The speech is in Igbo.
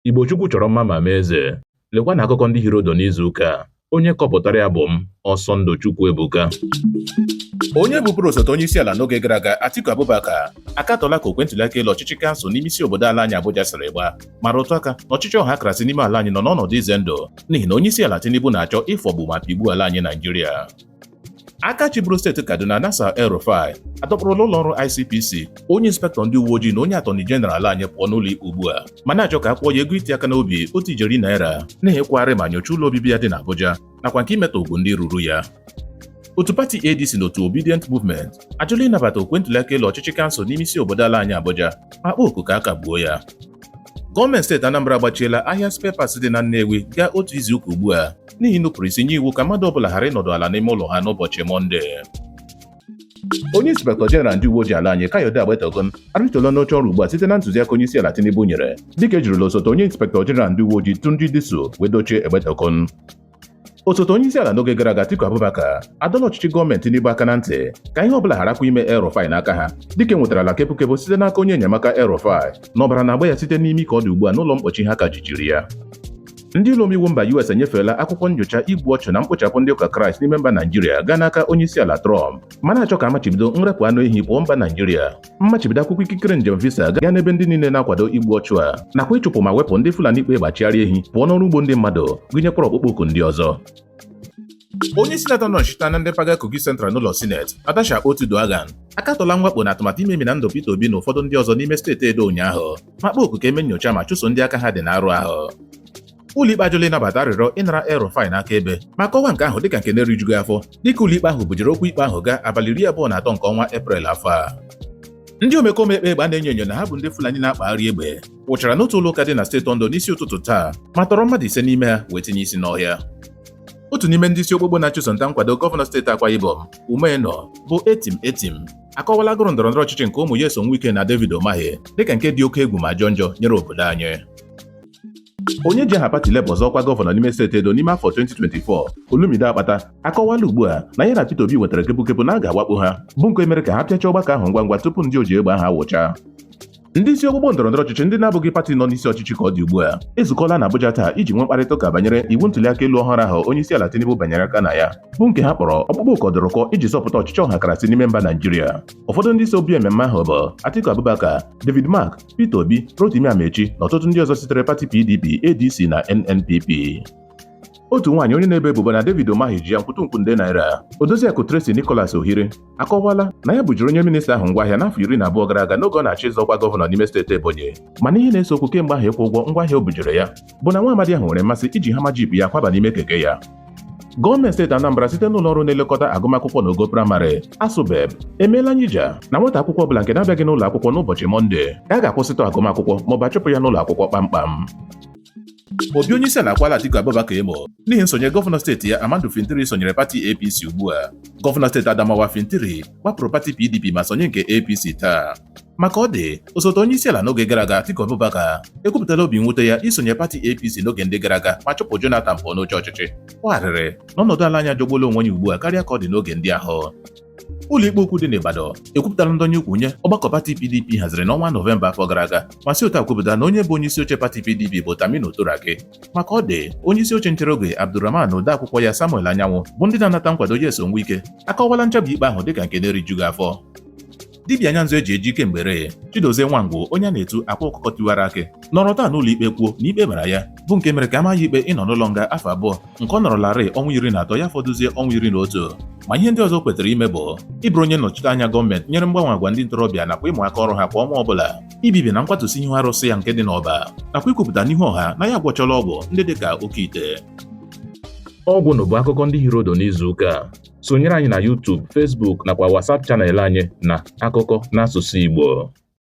Igbo Chukwu chọrọ mma ma mee eze. Lekwa na akụkọ ndị hiri ụdụ n'izu ụka a. Onye kọpụtara ya bụ m, Ọsọndụ Chukwuebuka. Onye bụburu osote onye isi ala n'oge gara aga Atiku Abubakar akatọla ka okwe ntụliaka elu ọchịchị kansụl n'ime isi obodo ala anyị Abuja siri gbaa ma rụtụ aka na ọchịchị ọhakarasị n'ime ala anyị nọ n'ọnọdụ ize ndụ n'ihi na onye isi ala Tinubu na-achọ ịfọgbu ma pịgbuo ala anyị Naijiria aka chịburu steeti kaduna nasir el rufai adọkpụrụla ụlọ ọrụ icpc onye inspektọ ndị uwe ojii na onye atọni jeneral anyị pụọ n'ụlọ ikpe ugbu a ma na-achọ ka a kwụọ ya ego iti aka n'obi otu ijeri naira n'ịkwagharị ma nyochaa ụlọ obibi ya dị n'abuja nakwa nke imetọ ugwu ndị ruru ya otu pati adc na otu obedient movement ajụla ịnabata okwe ntụliaka elu ọchịchị kansụl n'ime isi obodo ala anyị abuja ma kpọọ oku ka a kagbuo ya gọọmenti steeti anambra agbachiela ahịa spare parts dị na nnewi gaa otu izuụka ugbu a n'ihi nnupụrụ isi nye iwu ka mmadụ ọbụla ghara ịnọdụ ala n'ime ụlọ ha n'ụbọchị Mọnde. Onye inspektọ jeneral ndị uwe ojii ala anyị Kayode Egbetokun arịtụla n'oche ọrụ ugbu a site na ntụziaka onye isi ala Tinubu nyere dịka ejirila osote onye inspektọ jeneral ndị uwe ojii Tunji Disu wee dochie Egbetokun osote onye isi ala n'oge gara aga Atiku Abubakar adọọla ọchịchị gọọmenti Tinubu aka na ntị ka ihe ọbụla gharakwa ime El Rufai n'aka ha dịka enwetarala kepụkepụ site n'aka onye enyemaka El Rufai na ọbara na-agba ya site n'imi ka ọ dị ugbu a n'ụlọ mkpọchi ha ka jichiri ya Ndị ụlọomeiwu mba US enyefeela akwụkwọ nyocha igbu ọchụ na mkpochapụ ndị ụka Kraịst n'ime mba Naijiria gaa n'aka onyeisiala Trump ma na-achọ ka amachibido nrepụ anụ ehi pụọ mba Naijiria mmachibido akwụkwọ ikikere njem visa gaa n'ebe ndị niile na-akwado igbu ọchụ a nakwa ịchụpụ ma wepụ ndị Fulani kpa egbe achịgharị ehi pụọ n'ọrụ ugbo ndị mmadụ gụnyekwara ọkpụkpọ oku ndị ọzọ onye sinetọ nọchite anya ndị mpaghara Kogi Central n'ụlọ sineti Natasha Akpoti-Uduaghan akatọla mwakpo na atụmatụ imemina ndụ Peter Obi na ụfọdụ ndị ọzọ n'ime steeti Edo ụnyaahụ ma kpọọ oku ka e mee nyocha ma chụso ndị aka ha dị n'arụ ahụ ụlọikpe ajụla ịnabata arịrịọ ịnara El-Rufai n'aka ebe ma kọwaa nke ahụ dịka nke na-erijughị afọ dịka ụlọikpe ahụ bujere okwu ikpe ahụ gaa abalị iri abụọ na atọ nke ọnwa Eprel afọ a ndị omekome kpa egbe a na-enyo enyo na ha bụ ndị Fulani na-akpagharị egbe wụchara n'otu ụlọ ụka dị na steeti Ondo n'isi ụtụtụ taa ma tọrọ mmadụ ise n'ime ha wee tinye isi n'ọhịa otu n'ime ndị isi okpukpu na-achụso nta nkwado gọvanọ steeti Akwa Ibom Umo Eno bụ Etim Etim akọwala agụrụ ndọrọ ndọrọ ọchịchị nke ụmụ Nyesom Wike na David Umahi dịka nke dị oke egwu ma jọọ njọ nyere obodo anyị onye ji aha pati Labour zọọ ọkwa gọvanọ n'ime steeti Edo n'ime afọ 2024 Olumide Akpata akọwala ugbu a na ya na Peter Obi nwetara kepukepu na a ga-awakpo ha bụ nke mere ka ha pịachaa ọgbakọ ahụ ngwa ngwa tupu ndị oji egbe ahụ awụchaa Ndị isi okpukpu ndọrọndọrọ ọchịchị ndị na-abụghị pati nọ n'isi ọchịchị ka ọ dị ugbu a ezukọla na Abuja taa iji nwee mkparịta ụka banyere iwu ntuliaka elu ọhụrụ ahụ onye isi ala Tinubu banyere aka na ya bụ nke ha kpọrọ ọkpụkpọ oku ọdụrụkọ iji zọpụta ọchịchị ọhakarasị n'ime mba Naijiria ụfọdụ ndị so bịa mmemme ahụ bụ Atiku Abubakar David Mark Peter Obi Rotimi Amaechi na ọtụtụ ndị ọzọ sitere pati PDP ADC na NNPP otu nwaanyị onye na-ebo ebubo na David Umahi ji ya nkwutunkwu nde naira Odoziakụ Tracy Nicholas Ohiri akọwala na ya bujiri onye minista ahụ ngwaahịa n'afọ iri na abụọ gara aga n'oge ọ na-achọ ịzọ ọkwa gọvanọ n'ime steeti Ebonyi mana ihe na-ese okwu kemgbe ahụ ịkwụ ụgwọ ngwaahịa o bujiri ya bụ na nwa amadi ahụ nwere mmasị iji hama jip ya kwaba n'ime keke ya gọọmenti steeti Anambra site n'ụlọ ọrụ na-elekọta agụmakwụkwọ n'ogo praịmarị ASUBEB emeela nyija na nwata akwụkwọ ọbụla nke na-abịaghị n'ụlọ akwụkwọ n'ụbọchị mọnde ka a ga-akwụsịtụ agụmakwụkwọ maọbụ a chụpụ ya n'ụlọ akwụkwọ kpamkpam ma obi onye isi ala akwaala Atiku Abubakar emo n'ihi nsonye gọvanọ steeti ya Amadu Fintiri sonyere pati APC ugbu a gọvanọ steeti Adamawa Fintiri gbapụrụ pati PDP ma sonye nke APC taa ma ka ọ dị osote onye isi ala n'oge gara aga Atiku Abubakar ekwupụtala obi mwute ya isonye pati APC n'oge ndị gara aga ma chụpụ Jonathan pụọ n'oche ọchịchị kwaa arịrị na ọnọdụ ala anyị ajọgbuola onwe ya ugbu a karịa ka ọ dị n'oge ndị ahụ ụlọikpe ukwu dị n'Ibadan ekwupụtala ndọnye ukwu nye ọgbakọ pati PDP haziri n'ọnwa Nọvemba afọ gara aga ma si otu a kwupụta na onye bụ onye isi oche pati PDP bụ Taminu Turaki ma ka ọ dị onye isi oche nchere oge Abdulrahman na odeakwụkwọ ya Samuel Anyanwụ bụ ndị na-anata nkwado Nyesom Wike akọwala nchabi ikpe ahụ dịka nke na-erijughị afọ dibịa anya nzu eji eji kemgbe eri Chidozie Nwangwu onye a na-etu akwa ọkụkọ tiwara akị nọrọ taa n'ụlọ ikpe kwuo na ikpe mara ya bụ nke mere ka a maa ya ikpe ịnọ n'ụlọ nga afọ abụọ nke ọ nọrọlarị ọnwa iri na atọ ya fọdụzie ọnwa iri na otu ma ihe ndị ọzọ kwetara ime bụ ịbụrụ onye nnọchite anya gọọmenti nyere mgbanwe agwa ndị ntorobịa nakwa ịmụ aka ọrụ ha kwa ọnwa ọbụla ibibi na nkwatụsi ihu arụsị ya nke dị n'Ọba nakwa ikwupụta n'ihu ọha na ya agwọchala ọgwụ ndị dị ka oke ite ọ gwụla bụ akụkọ ndị hiri ụdụ n'izu ụka a sonyere anyị na YouTube, Facebook nakwa WhatsApp channel anyị na akụkọ n'asụsụ Igbo